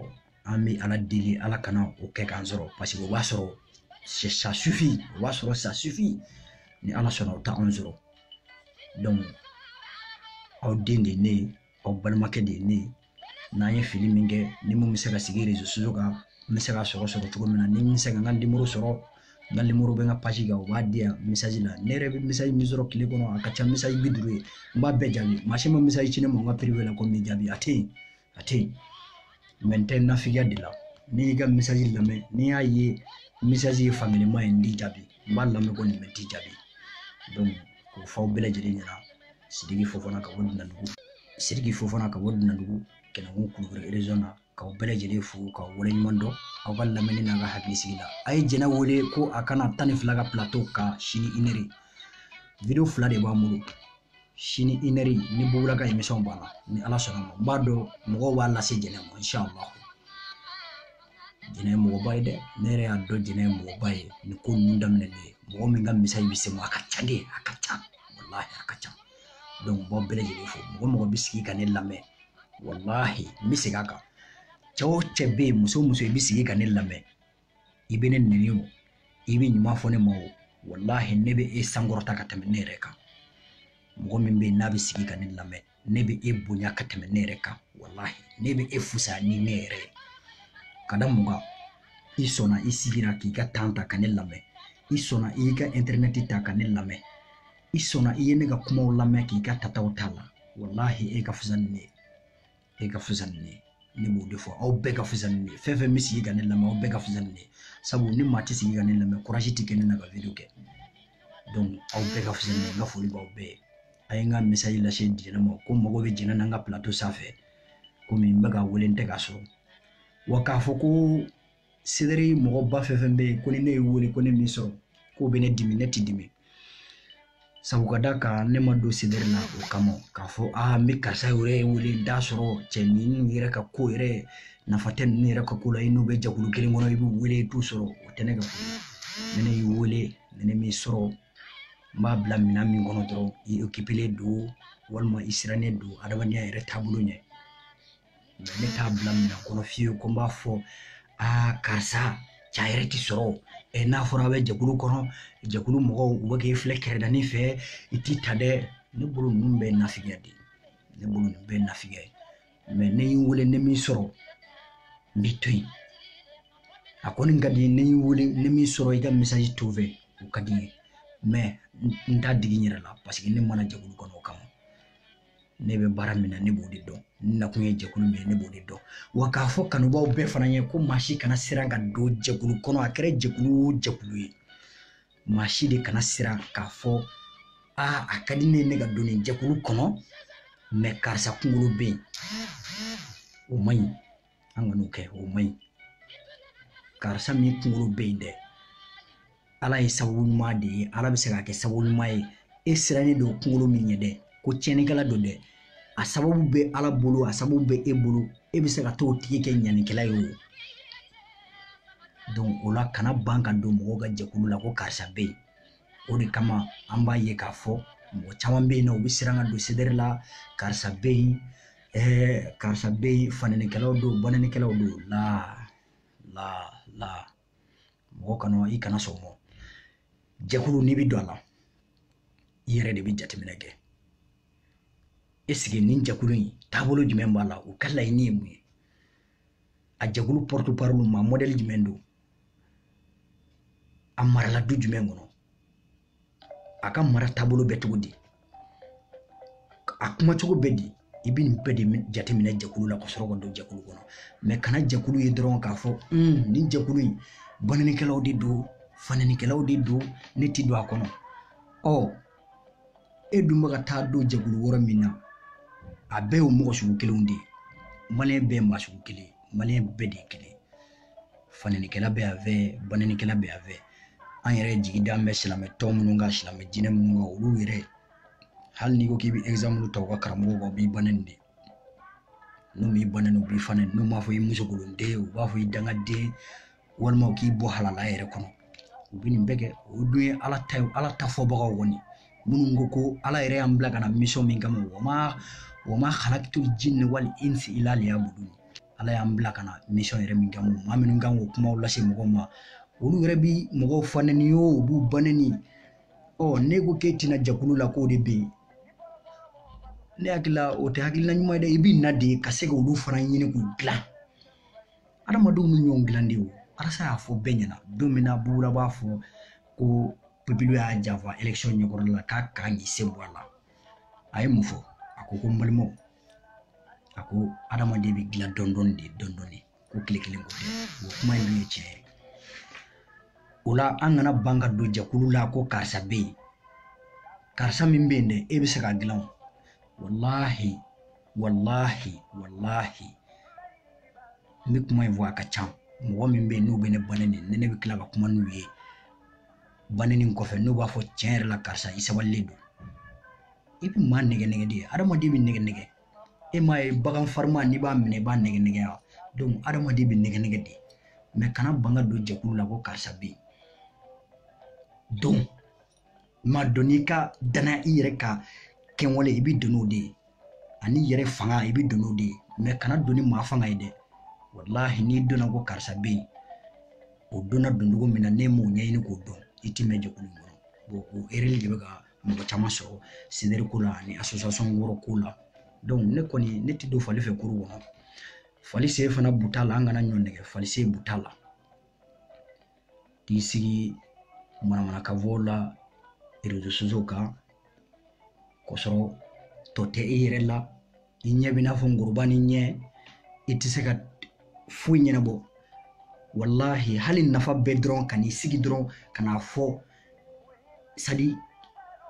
an bɛ ala deli ala kana o kɛ k'an sɔrɔ paseke o b'a sɔrɔ sa sufin o b'a sɔrɔ sa sufin ni ala sɔnna o t'anw sɔrɔ aw den de ye ne ye aw balimakɛ de ye ne ye n'an ye fili min kɛ ni min bɛ se ka sigi rezo kan n bɛ se ka sɔrɔ sɔrɔ cogo min na ni n bɛ se ka n ka nimoro sɔrɔ n ka nimoro bɛ n ka pasi kan u b'a di yan misaji la ne yɛrɛ bɛ misaji min sɔrɔ tile kɔnɔ a ka ca misaji bi duuru ye n b'a bɛɛ jaabi maa si ma misaji ci ne ma n ka piriwe la ko n bɛ jaabi a tɛ yen a tɛ yen mɛ n tɛ nafigiya de la ni n y'i ka misaji lamɛn ni n y'a ye misaji ye fankelen ye n t'i jaabi n b'a lamɛn ko nin bɛ t'i jaabi k'o fɔ aw bɛɛ lajɛlen ɲɛ na sidiki fofana ka bɔ dunandugu sidiki fofana ka bɔ dunandugu kɛnɛkun kulukoro na k'aw bɛɛ lajɛlen fo ka wale ɲuman dɔn aw ka lamɛnni n'aw ka hakilisigi la a ye jɛnɛ wele ko a ka na tan ni fila ka pilato kan sini inɛri video fila de b'an bolo sini inɛri ni bugula ka emisɔn banna ni ala sɔnna a ma n b'a dɔn mɔgɔw b'a lase jɛnɛ ma inshallah jɛnɛ ye mɔgɔba ye dɛ ne yɛrɛ y'a dɔn jɛnɛ ye mɔgɔba ye nin ko ninnu daminɛ ne ye mɔgɔ min ka misaji bɛ se ma a ka ca dɛ a ka ca walahi a ka ca dɔnku n b'aw bɛɛ lajɛlen fo mɔgɔ o mɔgɔ bɛ sigi ka ne lamɛn walahi n bɛ segin a kan cɛ o cɛ bɛ yen muso o muso i bɛ sigi ka ne lamɛn i bɛ ne nɛni o i bɛ ɲuman fɔ ne ma o walahi ne bɛ e sankɔrɔta ka tɛmɛ ne yɛrɛ kan mɔgɔ min bɛ yen n'a bɛ sigi ka ne lamɛn ne bɛ e bonya ka tɛmɛ ne yɛrɛ kan walahi ne bɛ e fusaya ni ne yɛrɛ ye ka da mun kan i sɔnna i sigira k'i ka tan ta ka ne lamɛn i sɔnna i y'i ka intɛrɛnɛti ta ka ne lamɛn i sɔnna i ye ne ka kumaw lamɛn k'i ka tataw ta a la walahi e ka fisa ni ne ye e ka fisa ni ne ye ne b'o de fɔ aw bɛɛ ka fisa ni ne ye fɛn o fɛn bɛ sigi ka ne lamɛn aw bɛɛ ka fisa ni ne ye sabu ni maa tɛ sigi ka ne lamɛn kurazi tɛ kɛ ne na ka video kɛ donc aw bɛɛ ka fisa ni ne ye n ka foli b'aw bɛɛ ye a ye n ka misaji lase jɛnɛ ma ko n mago bɛ jɛnɛ na n ka plateau sanfɛ komi n bɛ k'a wele n tɛ k'a sɔrɔ wa k'a fɔ ko sedere mɔgɔba fɛn o fɛn bɛ yen ko ni ne y'i wele ko ne m'i sɔrɔ k'o bɛ ne dimi ne tɛ dimi sabu ka d'a kan ne ma don sedere na o kama k'a fɔ aa n bɛ karisa yɛrɛ ye wele n t'a sɔrɔ cɛ ninnu yɛrɛ ka ko yɛrɛ nafa tɛ ninnu yɛrɛ ka ko la i n'u bɛ jɛkulu kelen kɔnɔ i b'u wele i t'u sɔrɔ o tɛ ne ka ko ni ne y'i wele ni ne m'i sɔrɔ n b'a bila minɛn min kɔnɔ dɔrɔn i okipelen don walima i sirannen don adamadenya yɛrɛ taabolo ɲɛ ne t'a bila minɛn kɔnɔ fiyewu ko n b'a fɔ aa karisa ca yɛrɛ ti sɔrɔ ɛ n'a fɔra a bɛ jɛkulu kɔnɔ jɛkulu mɔgɔw u bɛ k'i filɛ kɛrɛdani fɛ i t'i ta dɛ ne bolo ninnu bɛɛ nafigiya de ne bolo ninnu bɛɛ nafigiya ye mɛ ne y'i wele ne m'i sɔrɔ n b'i to yen a kɔni ka di i ye ne y'i wele ne m'i sɔrɔ i ka misaji to n fɛ o ka di n ye mɛ n t'a digi n yɛrɛ la paseke ne ma na jɛkulu kɔnɔ o kama ne bɛ baara min na ne b'o de dɔn n nakun ye jɛkulu min ye ne b'o de dɔn wa k'a fɔ kanubaaw bɛɛ fana ye ko maa si kana siran ka don jɛkulu kɔnɔ a kɛra jɛkulu o jɛkulu ye maa si de kana siran k'a fɔ aa a ka di ne ye ne ka don nin jɛkulu kɔnɔ mɛ karisa kunkolo bɛ yen o man ɲi an kan'o kɛ o man ɲi karisa min kunkolo bɛ yen dɛ ala ye sababu ɲuman de ye ala bɛ se k'a kɛ sababu ɲuman ye e sirannen don kunkolo min ɲɛ dɛ ko tiɲɛnikɛla don dɛ a sababu bɛ ala bolo a sababu bɛ e bolo e bɛ se k'a t'o tigi kɛ ɲanikɛla ye o donc o la kana ban ka don mɔgɔw ka jɛkulu la ko karisa bɛ yen o de kama an b'a ye k'a fɔ mɔgɔ caman bɛ yen nɔ u bɛ siran ka don sedɛri la karisa bɛ yen ɛɛ karisa bɛ yen fananikɛlaw don bananikɛlaw don la la la mɔgɔ kana i kana sɔn mɔ jɛkulu n'i bɛ don a la i yɛrɛ de bɛ jateminɛ kɛ eseke nin jɛkulu in taabolo jumɛn b'a la u ka laɲini ye mun ye a jɛkulu porte-parole maa mɔdɛli jumɛn don a marala du jumɛn kɔnɔ a ka mara taabolo bɛ cogo di a kuma cogo bɛ di i bɛ nin bɛɛ de jateminɛ jɛkulu la ka sɔrɔ ka don jɛkulu kɔnɔ mɛ kana jɛkulu ye dɔrɔn k'a fɔ nin jɛkulu in bananikɛlaw de don fananikɛlaw de don ne ti don a kɔnɔ ɔ e dun bɛ ka taa don jɛkulu wɛrɛ min na a bɛɛ y'o mɔgɔ sugu kelenw de ye maliyɛn bɛɛ ye maa sugu kelen ye maliyɛn bɛɛ de ye kelen fananikɛla bɛ yan fɛ bananikɛla bɛ yan fɛ an yɛrɛ jigi da bɛ silamɛ tɔn minnu kan silamɛ diinɛ minnu kan olu yɛrɛ hali n'i ko k'i bɛ ɛgizanpulu ta u ka karamɔgɔw kan u b'i banani de n'u m'i banani u b'i fanani n'u m'a fɔ i musokolonden u b'a fɔ i dangaden walima u k'i bɔ halala yɛrɛ kɔnɔ u bɛ nin bɛɛ kɛ o dun ye ala ta ye ala ta fɔbagaw kɔni minnu ko ko ala yɛrɛ y'an bila ka na misɔn min kama wa ma wa ma halakitu jinni wali insi ila liyabudu ala y'an bila ka na misɔn yɛrɛ min kama maa minnu kan k'o kumaw lase mɔgɔw ma olu yɛrɛ bi mɔgɔw fanɛni ye o b'u banɛni ɔ n'e ko k'e tɛ na jɛkulu la k'o de bɛ yen ne hakili la o tɛ hakilina ɲuman ye dɛ i b'i na de ka se ka olu fana ɲini k'u dilan adamadenw bɛ ɲɔgɔn dilan de wo arasi y'a fɔ bɛɛ ɲɛna don min na bubu la b'a fɔ ko pepilu y'a janfa election ɲɛkɔrɔla la k'a kan k'i sen bɔ a la a ye mun fɔ a ko ko n balimaw a ko adamaden bɛ dilan dɔɔni dɔɔni de dɔɔni dɔɔni ko tile kelen ko tɛ o kuma in dun ye tiɲɛ ye o la an kana ban ka don jɛkulu la ko karisa bɛ yen karisa min bɛ yen dɛ e bɛ se k'a dilan o walahi walahi walahi n bɛ kuma in fɔ a ka ca mɔgɔ min bɛ yen n'u bɛ ne ba nɛni ni ne bɛ tila ka kuma n'u ye ba nɛni kɔfɛ n'u b'a fɔ tiɲɛ yɛrɛ la karisa i sabalilen don i bɛ maa nɛgɛ nɛgɛ de hadamaden bɛ nɛgɛ nɛgɛ e m'a ye bagan farima n'i b'a minɛ i b'a nɛgɛ nɛgɛ wa donc hadamaden bɛ nɛgɛ nɛgɛ de mɛ kana bin ka don jɛkulu la ko karisa bɛ yen donc ma don n'i ka danaya i yɛrɛ ka kɛwale i bɛ don n'o de ye an'i yɛrɛ fanga i bɛ don n'o de ye mɛ kana don ni maa fanga ye dɛ walahi n'i donna ko karisa bɛ yen o donna doncogo min na ne m'o ɲɛɲini k'o dɔn i ti mɛn jɛkulu kɔnɔ bon o erreur de bɛ ka mɔgɔ caman sɔrɔ CDR ko la ani association wɛrɛ ko la donc ne kɔni ne ti don fali fɛ kurun kɔnɔ fali sen fana buta la an kana ɲɔgɔn nɛgɛ fali sen buta la k'i sigi manamanakan fɔ la réseaux sociaux kan k'a sɔrɔ tɔ tɛ i yɛrɛ la i ɲɛ bɛ i n'a fɔ ngɔrɔba ni ɲɛ i tɛ se ka foyi ɲɛnabɔ walahi hali nafa bɛ dɔrɔn ka n'i sigi dɔrɔn ka n'a fɔ sadi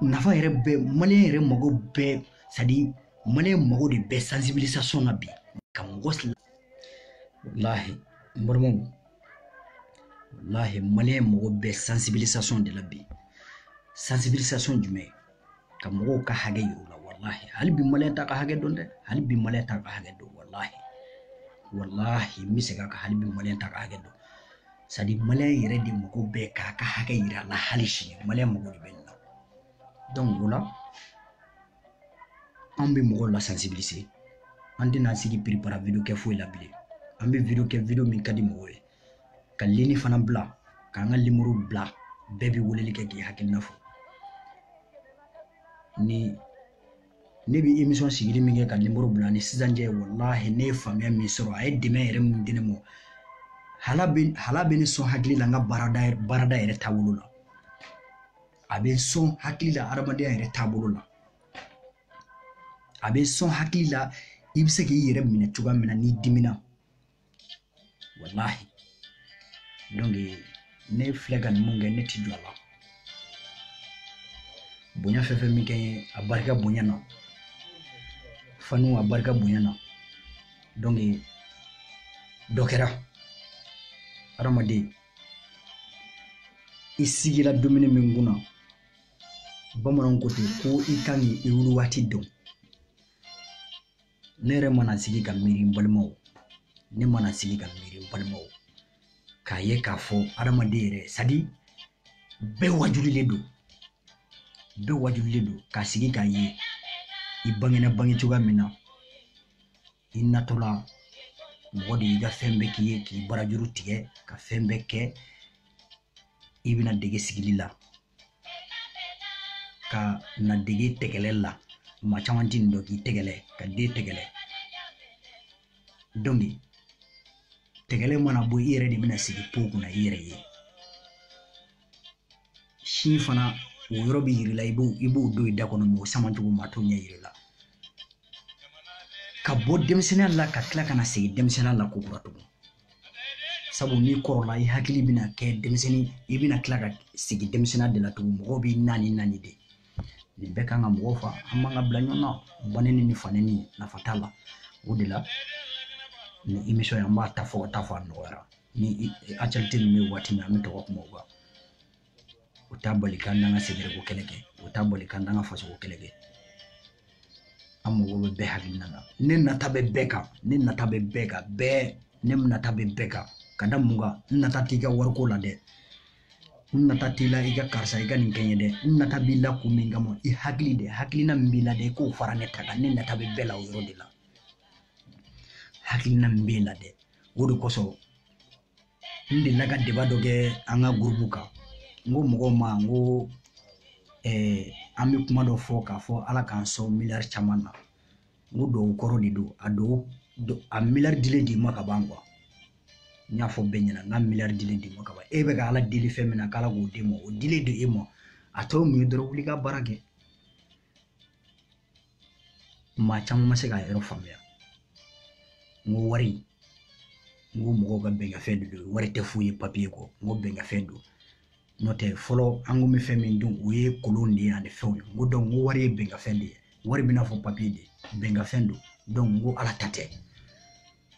nafa yɛrɛ bɛ maliyɛn yɛrɛ mago bɛ sadi maliyɛn mago de bɛ sansibilisasɔn na bi ka mɔgɔ walahi n balimaw walahi maliyɛn mago bɛ sansibilisasɔn de la bi sansibilisasɔn jumɛn ka mɔgɔw ka hakɛ yir'u la walahi hali bi maliyɛn t'a ka hakɛ dɔn dɛ hali bi maliyɛn t'a ka hakɛ dɔn walahi walahi n bɛ segin a kan hali bi maliyɛn t'a ka hakɛ dɔn sadi maliyɛn yɛrɛ de mago bɛ k'a ka hakɛ yira a la hali sini maliyɛn mago de bɛ nin na o la an bɛ mɔgɔw la sensibiliser an tɛna an sigi piripara video kɛ foyi la bilen an bɛ video kɛ video min ka di mɔgɔw ye ka lini fana bila k'an ka nimoro bila bɛɛ bɛ weleli kɛ k'i hakilina fɔ ni ne bɛ emission sigili min kɛ ka nimoro bila ni sisan cɛ walahi ne ye faamuya min sɔrɔ a ye dɛmɛ yɛrɛ min di ne ma hala bɛ hala bɛ ne sɔn hakili la n ka baarada baarada yɛrɛ taabolo la a bɛ sɔn hakili la adamadenya yɛrɛ taabolo la a bɛ sɔn hakili la i bɛ se k'i yɛrɛ minɛ cogoya min na n'i dimina walahi donc ne filɛ ka nin mun kɛ ne ti jɔ a la bonya fɛn fɛn min kɛ n ye a barika bonya na fanu a barika bonya na donc dɔ kɛra hadamaden i sigila dumuni min kunna bamananw ko ten ko i kan k'i i wuli waati dɔn ne yɛrɛ mana sigi ka miiri n balimaw ne mana sigi ka miiri n balimaw k'a ye k'a fɔ adamaden yɛrɛ sadi bɛɛ wajulilen don bɛɛ wajulilen don k'a sigi k'a ye i bangena bange cogoya min na i natɔla mɔgɔ de y'i ka fɛn bɛɛ k'i ye k'i barajuru tigɛ ka fɛn bɛɛ kɛ i bɛna dege sigili la ka na dege tɛgɛlɛ la maa caman tɛ nin dɔn k'i tɛgɛlɛ ka den tɛgɛlɛ dɔnki tɛgɛlɛ mana bɔ i yɛrɛ de bɛna sigi po kunna i yɛrɛ ye si fana o yɔrɔ bɛ yir'i la i bo i b'o don i da kɔnɔ mɔgɔ sama cogo maa t'o ɲɛ yir'i la ka bɔ denmisɛnninya la ka tila ka na segin denmisɛnninya la ko kura tugun sabu n'i kɔrɔla i hakili bɛna kɛ denmisɛnnin i bɛna tila ka segin denmisɛnninya de la tugun mɔgɔw b'i naani naani de nin bɛɛ kan ka mɔgɔw fa an b'an ka bila ɲɔgɔn na banɛni ni fanɛni nafa t'a la o de la nin émission in an b'a ta fɔ ka taa fɔ a nɔgɔyara ni actualité min bɛ waati min an bɛ to ka kuma o kan o t'a bali k'an n'an ka sɛgɛrɛko kɛlɛ kɛ o t'a bali k'an n'an ka fasoko kɛlɛ kɛ an mago bɛ bɛɛ hakilina na ne nata bɛ bɛɛ kan ne nata bɛ bɛɛ kan bɛɛ ne nata bɛ bɛɛ kan ka da mun kan n nata t'i ka wariko la dɛ n nata t'i la i ka karisa i ka nin kɛ n ye dɛ n nata b'i la kun min kama i hakili de hakilina min b'i la dɛ i k'o fara ne ta kan ne nata bɛ bɛɛ la o yɔrɔ de la hakilina min b'e la dɛ o de kosɔn n delila ka deba dɔ kɛ an ka gurupu kan n ko mɔgɔw ma n ko eh, an bɛ kuma dɔ fɔ k'a fɔ ala k'an sɔn miliyari caman na n ko dɔw kɔrɔ de don a dɔw a miliyari dilen d'e ma ka ban kuwa n y'a fɔ bɛɛ ɲɛna n k'a miliyari dilen d'e ma ka ban e bɛ ka ala deli fɛn min na k'ala k'o d'e ma o dilen don e ma a tɔ mun ye dɔrɔn wuli ka baara kɛ maa caman ma se k'a yɔrɔ faamuya n ko wari n ko mɔgɔw ka bɛnkafɛn de don wari tɛ foyi ye papiye kɔ n ko bɛnkafɛn don n'o tɛ fɔlɔ an kun bɛ fɛn min dun o ye kolon de ye ani fɛnw ye n ko dɔnku n ko wari ye bɛnkafɛn de ye wari bɛna fɔ papiye de bɛnkafɛn don dɔnku n ko ala ta tɛ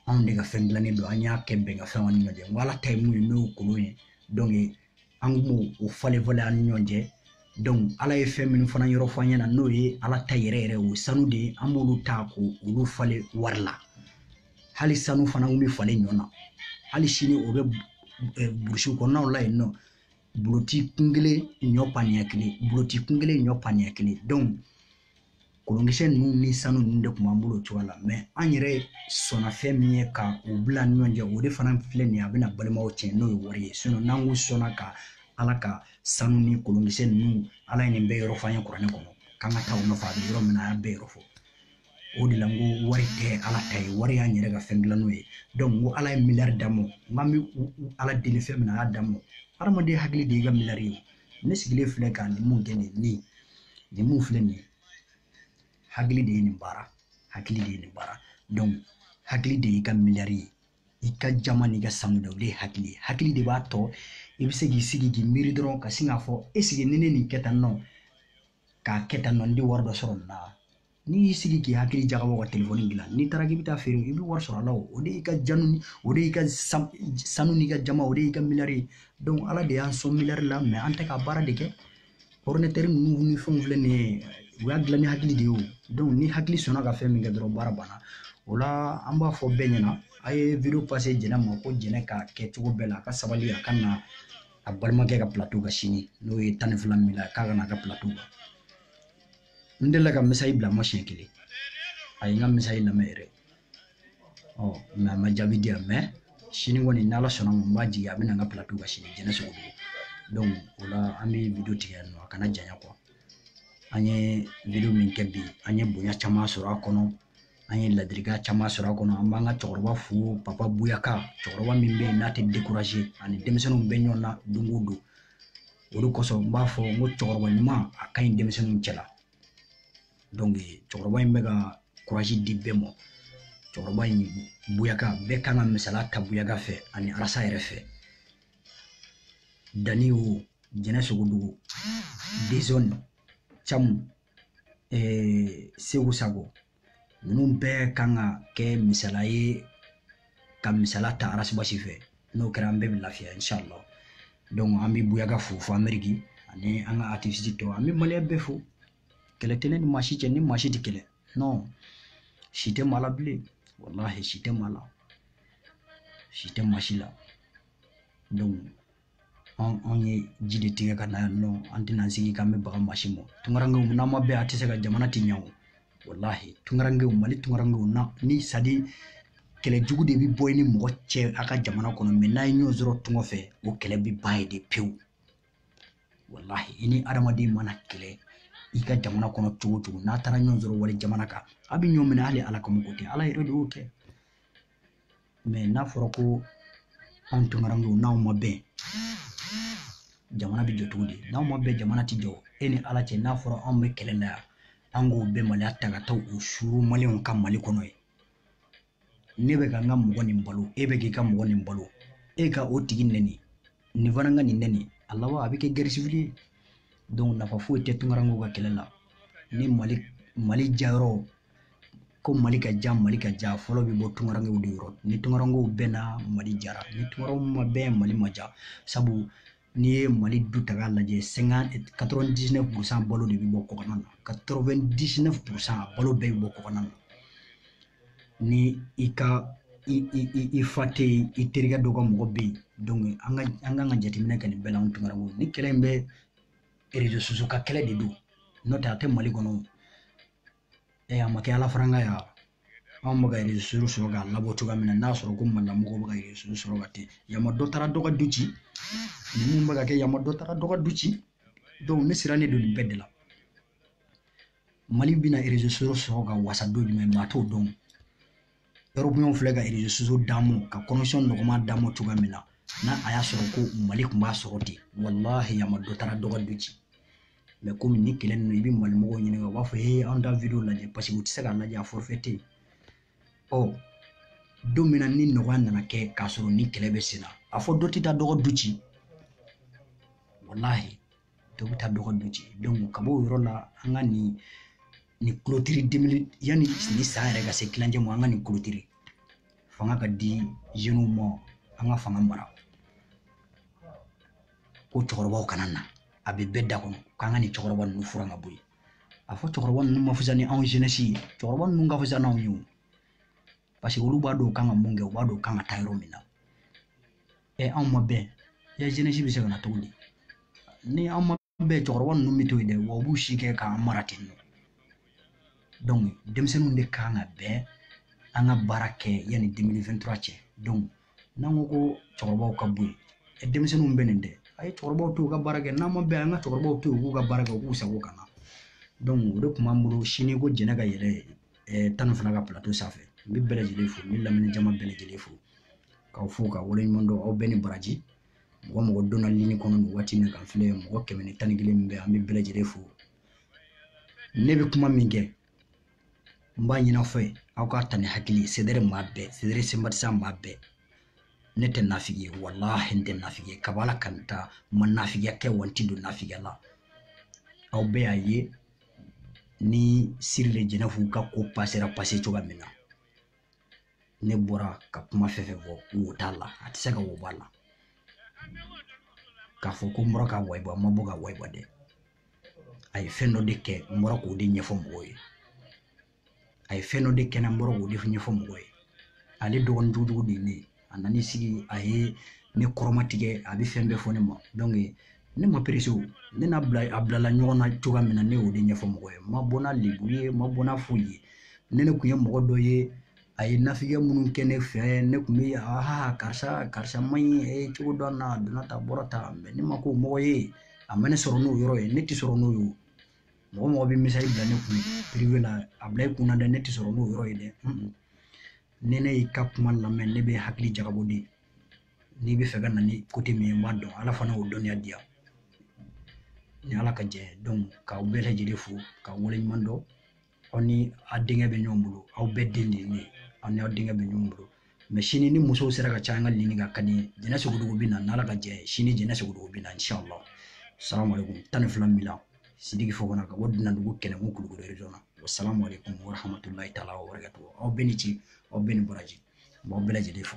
anw de ka fɛn dilannen don an y'a kɛ bɛnkafɛn an ni ɲɔgɔn cɛ n ko ala ta ye mun ye n'o ye kolon ye dɔnku an kun b'o o falen falen an ni ɲɔgɔn cɛ donc ala ye fɛn minnu fana yɔrɔ fɔ an ɲɛna n'o ye ala ta yɛrɛ yɛrɛ o sanu de ye an b'olu ta k'olu falen wari la hali sanu fana kun bɛ falen ɲɔ na hali sini o bɛ eh, burusi kɔnɔnaw la yen nɔ buloti kun kelen ɲɔ paniya kelen buloti kun kelen ɲɔ paniya kelen donc kolonkisɛ ninnu ni sanu ninnu de tun b'an bolo o cogoya la mɛ an yɛrɛ sɔnna fɛn min ye ka u bila ni ɲɔgɔn cɛ o de fana filɛ nin ye a bɛna balimaw cɛ n'o ye wari ye sinɔn n'an ko sɔnna ka ala ka sanu ni kolonkisɛ ninnu ala ye nin bɛɛ yɔrɔ f'an ye kuranɛ kɔnɔ k'an ka taa u nɔfɛ a bɛ yɔrɔ min na a y'a bɛɛ yɔrɔ fɔ o de la n ko wari tɛ ala ta ye wari y'an yɛrɛ ka fɛn dilannen ye donc n ko ala ye miliyari d'an ma n k'an bɛ ala deli fɛn min na a y'a d'an ma hadamaden hakili de y'i ka miliyari ye ne sigilen filɛ ka nin mun kɛ nin nin nin mun filɛ nin ye hakili de ye nin baara hakili de ye nin baara hakili de y'i ka miliyari ye i ka jaman n'i ka sanu dɛ o de ye hakili ye hakili de b'a to i bɛ se k'i sigi k'i miiri dɔrɔn ka sin k'a fɔ ɛsiki ni ne nin kɛ tan nɔ k'a kɛ tan nɔ n tɛ wari dɔ sɔrɔ nin na n'i y'i sigi k'i hakili jagabɔ ka telefɔni dilan n'i taara k'i bɛ t'a feere i bɛ wari sɔrɔ a la o de y'i ka janu ni o de y'i ka sanu n'i ka jaman o de y'i ka miliyari ye ala de y'an sɔn miliyari la mɛ an tɛ ka baara de kɛ ɔridinatɛri ninnu ni fɛnw filɛ nin ye u y'a dilan ni hakili de ye o ni hakili sɔnna ka fɛn min kɛ dɔrɔn baara banna o la an b'a fɔ bɛɛ ɲɛna a ye jɛnɛ ma ko jɛnɛ ka kɛ cogo bɛɛ la a ka sabali a ka na a balimakɛ ka plateau kan sini n'o ye tan ni fila min la k'a ka na n ka plateau kan n delila ka mesazi bila a ma siɲɛ kelen a ye n ka mesazi lamɛn yɛrɛ ɔ mɛ a ma jaabi di yan mɛ sini kɔni n'ala sɔnna a ma n b'a jigi a bɛ na n ka plateau kan sini jɛnɛ sogodɔgɔ o la an bɛ video tigɛ yan nɔ a kana janya kuwa an ye video min kɛ bi an ye bonya caman sɔrɔ a kɔnɔ an ye ladilikan caman sɔrɔ a kɔnɔ an b'an ka cɛkɔrɔba fo papa buyaka cɛkɔrɔba min bɛ yen n'a tɛ a ni denmisɛnninw bɛ ɲɔgɔn na don o don o de kosɔn n b'a fɔ n ko cɛkɔrɔba ɲuman a ka ɲi denmisɛnninw cɛla cɛkɔrɔba in bɛ ka kurazi di bɛɛ ma cɛkɔrɔba in buyaka bɛɛ kan ka misaliya ta buyaka fɛ ani arasi yɛrɛ fɛ danni o jɛnɛ sogodɔgɔ dezɔn camu ee, segu sago ninnu bɛɛ kan ka kɛ misala ye ka misala ta arasibasi fɛ n'o kɛra an bɛɛ bɛ lafiya inshallah donc an bɛ buyaga fo fo ameriki ani an ka ativisi tɔw an bɛ maliyɛn bɛɛ fo kɛlɛ tɛ ne ni maa si cɛ ni maa si tɛ kɛlɛ non si tɛ maa la bilen walahi si tɛ maa la si tɛ maa si la donc anw ye ji de tigɛ ka na yan nɔ an tɛna sigi k'an bɛ baga maa si ma tungarankew n'an ma bɛn a tɛ se ka jamana tiɲɛ o walahi tungarankew mali tungarankew na ni sadi kɛlɛ jugu de bɛ bɔ i ni mɔgɔ cɛ a ka jamana kɔnɔ mɛ n'a ye ɲɔgɔn sɔrɔ tunga fɛ o kɛlɛ bɛ ban yen de pewu walahi i ni hadamaden mana kɛlɛ i ka jamana kɔnɔ cogo o cogo n'a taara ɲɔgɔn sɔrɔ wali jamana kan a bɛ ɲɔgɔn minɛ hali ala kama ko tɛ ala yɛrɛ de y'o kɛ mɛ n'a fɔra ko anw tunkaranw don n'anw ma bɛn jamana bɛ jɔ cogo di n'anw ma bɛn jamana tɛ jɔ e ni ala cɛ n'a fɔra anw bɛ kɛlɛ la yan an k'o bɛɛ maliya ta ka taa o suuru maliyɛnw kan mali kɔnɔ yen ne bɛ ka n ka mɔgɔ nin balo e bɛ k'i ka mɔgɔ nin balo e ka o tigi nɛni nin fana ka nin nɛni a laban a bɛ kɛ gɛrisibili ye nafa foyi tɛ tunkarankew ka kɛlɛ la ni mali mali jayɔrɔ ko mali ka ja mali ka ja fɔlɔ bɛ bɔ tunkarankew de yɔrɔ ni tunkarankew bɛnna mali jara ni tunkaranw ma bɛn mali ma ja sabu n'i ye mali du ta k'a lajɛ sɛŋa katɔrɔn disinɛf purusan balo de bɛ bɔ kɔkanna na katɔrɔn disinɛf purusan balo bɛɛ bɛ bɔ kɔkanna na ni i ka i i i i fa tɛ yen i terikɛ dɔ ka mɔgɔ bɛ yen an ka an kan ka jateminɛ kɛ nin bɛɛ la anw tunkarankew nin kɛlɛ in bɛɛ erezo sosiyo ka kɛlɛ de don n'o tɛ a tɛ mali kɔnɔ ɛ a ma kɛ ala faranka ya anw bɛ ka erezo sɔrɔ k'a labɔ cogoya min na n'a sɔrɔ ko malimɔgɔw bɛ ka erezo sɔrɔ ka ten yamma dɔ taara dɔ ka du ci ninnu bɛ ka kɛ yamma dɔ taara dɔ ka du ci ne sirannen don nin bɛɛ de la mali bɛna erezo sɔrɔ ka wasa don jumɛn maa t'o dɔn Erɔpu filɛ ka erezo sosiyo d'an ma ka konɛkisɔn nɔgɔman d'an ma cogoya min na n'a a y'a sɔrɔ ko mali tun b'a sɔrɔ ten walahi a ma dɔ taara dɔ ka du ci mɛ komi nin kɛlɛ ninnu i bɛ mali mɔgɔw ɲininka u b'a fɔ ee an tɛ video lajɛ paseke u tɛ se k'a lajɛ a forofɛ tɛ yen ɔ don min na ni nɔgɔya nana kɛ k'a sɔrɔ nin kɛlɛ bɛ sen na a fɔ dɔ tɛ taa dɔ ka du ci walahi dɔ bɛ taa dɔ ka du ci ka b'o yɔrɔ la an ka nin nin kulotiri demili yanni nin san yɛrɛ ka se tilancɛ ma an ka nin kulotiri fanga ka di zeniw ma an ka fanga mara ko cɛkɔrɔbaw kana na a bɛ bɛɛ da kɔnɔ k'an ka nin cɛkɔrɔba ninnu furan ka bɔ yen a fɔ cɛkɔrɔba ninnu man fisa ni anw zenɛsi ye cɛkɔrɔba ninnu ka fisa n'anw ye o paseke olu b'a dɔn u kan ka mun kɛ u b'a dɔn u kan ka taa yɔrɔ min na ɛ anw ma bɛn yan zenɛsi bɛ se ka na cogo di ni anw ma bɛn cɛkɔrɔba ninnu bɛ to yen dɛ wa u b'u si kɛ k'an mara ten nɔ donc denmisɛnninw de kan ka bɛn an ka baara kɛ yanni 2023 cɛ donc n'an ko ko cɛkɔrɔbaw ka bɔ yen denmisɛnninw bɛnnen tɛ a ye cɛkɔrɔbaw to u ka baara kɛ n'an ma bɛn an ka cɛkɔrɔbaw to yen u k'u ka baara kɛ u k'u sago ka na o de kun b'an bolo sini ko jɛnɛ ka yɛlɛ tan ni fana ka pilato sanfɛ n bɛ bɛɛ lajɛlen fo n bɛ lamini jama bɛɛ lajɛlen fo k'aw fo ka wale ɲuman dɔn aw bɛɛ ni baraji mɔgɔ mɔgɔ donna lini kɔnɔ nin waati min kan filɛ mɔgɔ kɛmɛ ni tan ni kelen min bɛ an bɛ bɛɛ lajɛlen fo ne bɛ kuma min kɛ n b'a ɲin'aw fɛ aw k'a ta ni hakili ye CDR maa bɛɛ CDR sympathisants maa bɛɛ ne tɛ nafigi ye walahi n tɛ nafigi ye kabi ala ka n da n ma nafigiya kɛ wa n ti don nafigiya la aw bɛɛ y'a ye ni siri le jɛnɛfu ka ko pasera pase cogoya min na ne bɔra ka kuma fɛn fɛn fɔ wo t'a la a tɛ se ka wo b'a la k'a fɔ ko n bɔra k'a wayiba n ma bɔ k'a wayiba dɛ a ye fɛn dɔ de kɛ n bɔra k'o de ɲɛfɔ mɔgɔw ye a ye fɛn dɔ de kɛ n bɔra k'o de ɲɛfɔ mɔgɔw ye ale dɔgɔnin jugujugu de ye ne ye a nan'i sigi a ye ne kɔrɔmatigɛ a bɛ fɛn bɛɛ fɔ ne ma ne ma perese o ne n'a bilala ɲɔgɔn na cogoya min na ne y'o de ɲɛfɔ mɔgɔw ye n ma bɔ n'a lebu ye n ma bɔ n'a foyi ye ne ne kun ye mɔgɔ dɔ ye a ye nafigiya minnu kɛ ne fɛ ne kun bɛ aa karisa karisa man ɲi e cogo dɔn na a donna ta a bɔra ta ne ma ko mɔgɔ ye a ma ne sɔrɔ n'o yɔrɔ ye ne tɛ sɔrɔ n'o ye mɔgɔ mɔgɔ bɛ misali bila ne kun privé la a bila i kunna dɛ ne tɛ sɔrɔ n'o yɔrɔ ye dɛ ni ne y'i ka kuma lamɛn ne bɛ hakili jagabɔ de n'i bɛ fɛ ka na ni côté min ye n b'a dɔn ala fana y'o dɔnniya di yan ni ala ka jɛ k'aw bɛɛ lajɛlen fo k'aw waleɲuman dɔn aw ni a denkɛ bɛ ɲɔgɔn bolo aw bɛɛ den de ye ne ye aw ni aw denkɛ bɛ ɲɔgɔn bolo mɛ sini ni musow sera ka ca an ka lini ka ka di jɛnɛ sogodogo bɛ na n'ala ka jɛ ye sini jɛnɛ sogodogo bɛ na inshallah salamu alaikum tan ni fila min la sidiki fɔ kɔnɔ ka bɔ dunandugu kɛlɛkun kulukoro region na wasalamu alaikum warahmatulahi taala wabarakatuhu aw bɛɛ ni ci aw bɛɛ ni baraji n b'aw bɛɛ lajɛlen fo